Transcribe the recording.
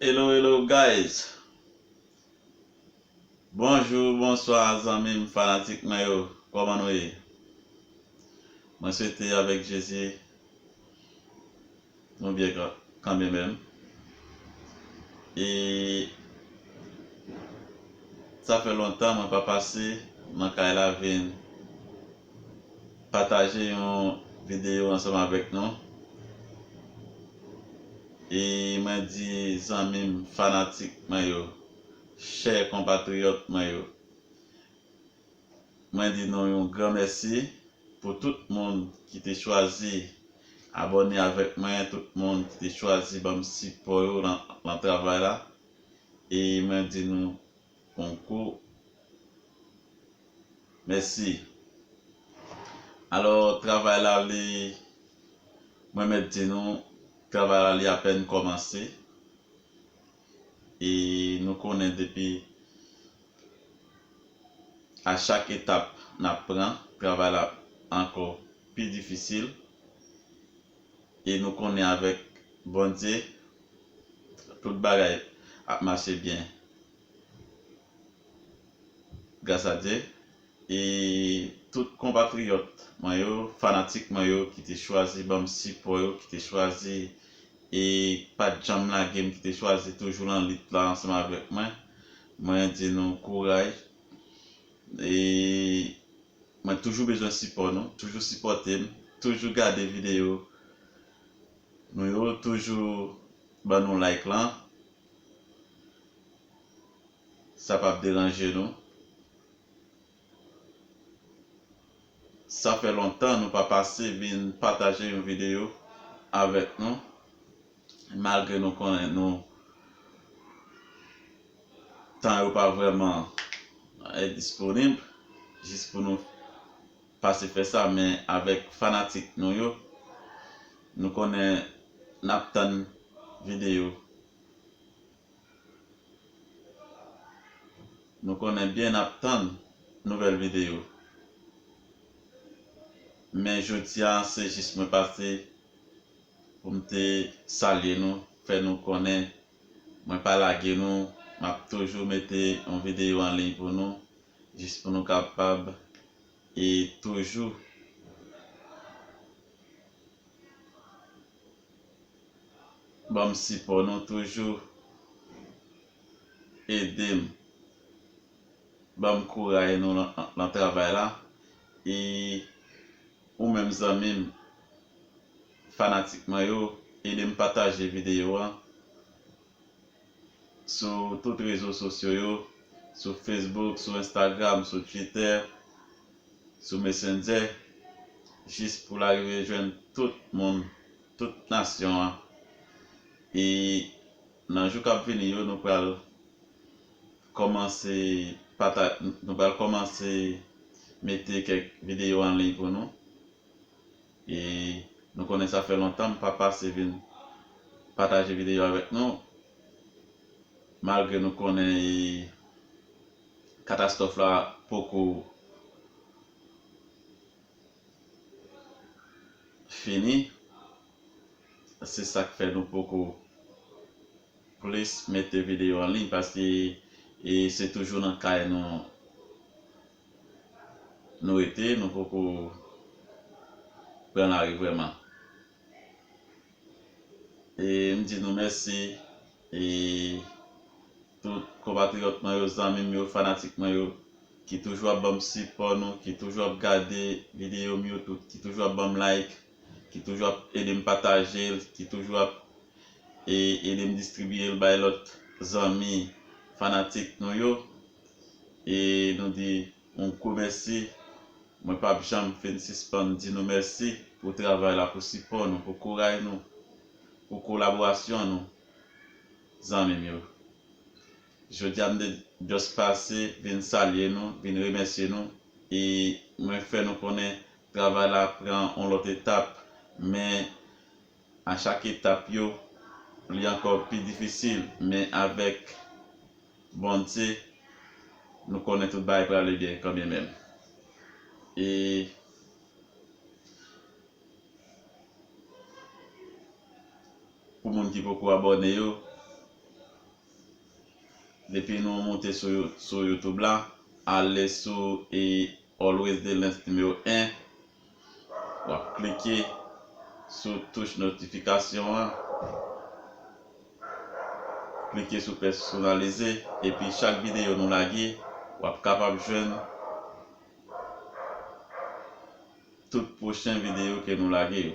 Hello hello guys Bonjou bonswa zanmim fanatik mwen yo kòman nou ye mwen swete avèk jezi nou byen kanmenmèm e sa fè lontan mwen pa pase nan kay la vin pataje yon videyo ansanm avèk nou e mwen di zanmi m fanatik mwen yo chè konpatriyòt mwen yo mwen di nou yon gran mèsi pou tout moun ki te chwazi abòne avèk mwen tout moun ki te chwazi banm sipò yo lan travay la e mwen di nou. konkou mèsi alò travay la li mwen mèt di nou travay la li apèn kòmanse e nou konnen depi a chak etap nap pran travay la ankò pi difisil e nou konnen avèk Bondye Tout bagay ap mache byen gras a Dye e tout konpatriyòt mwen yo, fanatik mwen yo ki te chwazi banm sipò yo, ki te chwazi e pat janm lage m, ki te chwazi toujou lan lit la ansanm avèk mwen, mwen di nou kouraj e mwen toujou bezwen sipò nou, toujou sipòte m, toujou gade videyo Nou yo toujou ban nou like lan sa pap deranje nou sa fè lontan nou pa pase vin pataje yon video avèk nou malgre nou konnen nou tan yo pa vrèman disponib jis pou nou pase fè sa men avèk fanatik nou yo nou konnen nap tann video nou konnen byen nap tann nouvèl video men jodia se jis mwen pase poum te salye nou fè nou konnen mwen pa lage nou map toujou mete yon video anliy pou nou jis pou nou kapab e toujou banm sipò nou toujou edem banm kouray nou lan travay la e ou menm zanmim fanatik mwen yo edem pataje video an. sou tout rezo sosyo yo, sou Facebook, sou Instagram, sou Twitter, sou Messenger, jis pou l arive jwenn tout moun, tout nasyon an. E nan jou k ap vini yo, nou pral kòmanse pata, nou pral kòmanse mete kèk videyo anliy pou nou. E nou konnen sa fè lontan m pa pase vin pataje videyo avèk nou malgre nou konnen e katastwòf la poko fini se sak fè nou poko plis mete videyo an liy paske e se toujou nan kay nou nou rete nou poko pran lari vrèman e m di nou mèsi e tout konpatriyòt mwen yo zanmi m yo fanatik mwen yo ki toujou ap banm sipò nou ki toujou ap gade videyo m yo tout ki toujou ap banm like ki toujou ap ede m pataje l ki toujou ap ede m distribiye l bay lòt zanmi fanatik nou yo. E nou di yon gwo mèsi. Mwen p ap janm fin sispann di nou mèsi pou travay la, pou sipò nou, pou kouray nou, pou kolaborasyon nou zanmi m yo. Jodi a m te just pase vin salye nou, vin remèsye nou e mwen fè nou konnen travay la pran yon lòt etap men a chak etap yo li ankò pi difisil men avèk Bondye nou konnen tout bagay prale byen kanmye menm e pou moun ki poko abòne yo depi nou moute sou youtube la ale sou e always delens nimewo 1 Wap klike sou touch notifikasyon an, klike sou pèsonalize epi chak videyo nou lage wap kapab jwenn tout pwochen videyo ke nou lage yo.